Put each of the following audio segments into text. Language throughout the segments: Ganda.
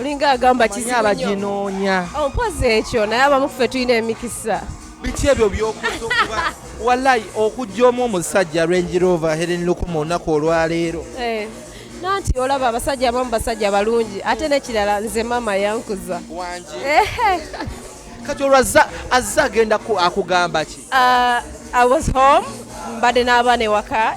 olinga agamba kizibunyobajinoonya oh, mpozi ekyo naye abamu ffe tulina emikisa biki ebyo byokuza okuba walayi okujja omu omusajja range rover helen lukuma olunaku olwaleero eh, nanti olaba abasajja abamu basajja balungi ate nekirala nze maama yankuza kati olwo azze agenda akugamba ki ah, i was home mbadde n'abaana ewaka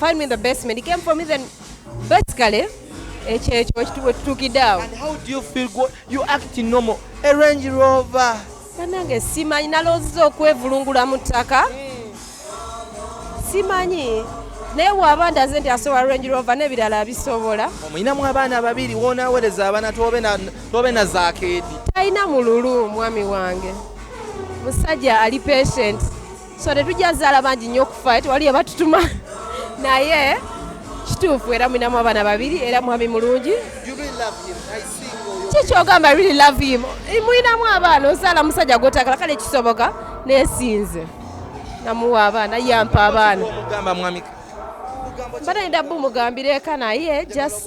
Find me in the basement. He came for me then basically ekyo ekyo ekituwe tutukidde awo. And how do you feel go you act normal. A Range Rover. Banange simanyi nalozze okwevulungula mu ttaka. Hmm. Simanyi. naye waba ndaze nti asobola range rover n'ebirala abisobola omuyinamu abaana babiri wonawereza abaana tobe na zakeedi talina mululu omwami wange musajja ali patient so tetujja zaala bangi nnyo okufa eh, tewali yabatutuma naye kituufu era mulinamu abaana babiri era mwami mulungi kikyogamba really love him eh, mulinamu abaana ozaala musajja gwotagala kale kisoboka nesinze namuwa abaana yampa abaana mbadde ndabbu mugambireka naye just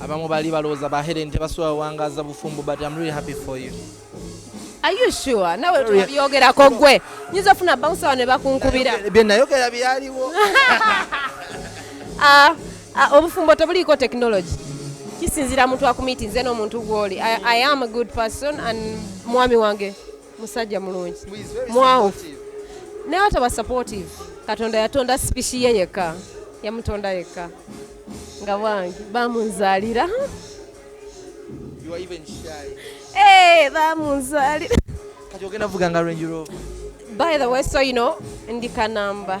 abamu bali balowooza ba Helen tebasobola wangaaza bufumbo but I'm really happy for you Are you sure? Nawe tubyogerako gwe nyinza ofuna bouncer ne bakunkubira bye nayogera byaliwo ah, ah, obufumbo tebuliiko technology kisinzira muntu akumitinze n'omuntu gw'oli I, I am a good person and mwami wange musajja mulungi mwawufu naye ataba supportive katonda yatonda sipishi ye yekka yamutonda yekka nga wange bamunzalira eh, bamunzalira kati ogenda vuga nga range rover by the way so you know ndi kanamba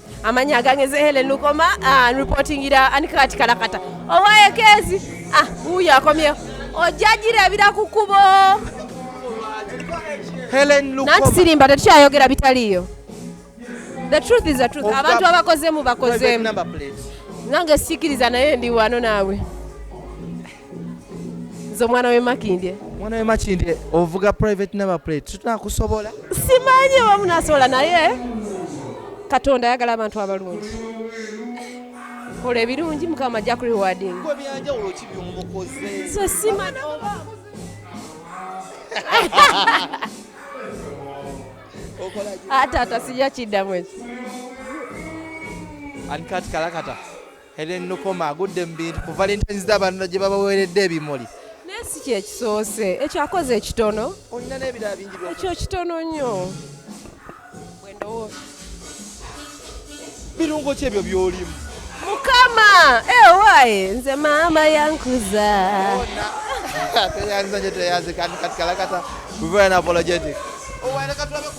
amanya agangeze helen lukoma ah, reportingira anikakati kalakata owaekezi ah, uyo akomyeho ojajirabira ku kubo nanti sirimba tetukyayogera bitaliyo the truth is the truth abantu abakozemu bakozemu nange sikiriza naye ndi wano naawe nze omwana wemakindye omwana wemakindye ovuga private number plate tunakusobola simanyi oba munasobola naye katonda ayagala abantu abalungi kola ebirungi mukama ajja ku rewarding nze simanyi oba ate atasija kiddamu ekyo ani kati kalakata Helen Nukoma agudde mu bintu ku Valentine's Day abantu gye babaweeredde ebimuli. Naye si kye kisoose, ekyo akoze ekitono. Olina n'ebirala bingi by'okoze. Ekyo kitono nnyo. Bwe ndowooza. Birungo ki ebyo by'olimu? Mukama! Ewaye! Eh, Nze maama yankuza. Teyanza nyo teyanze kandi kati kalakata. We very apologetic. Oh,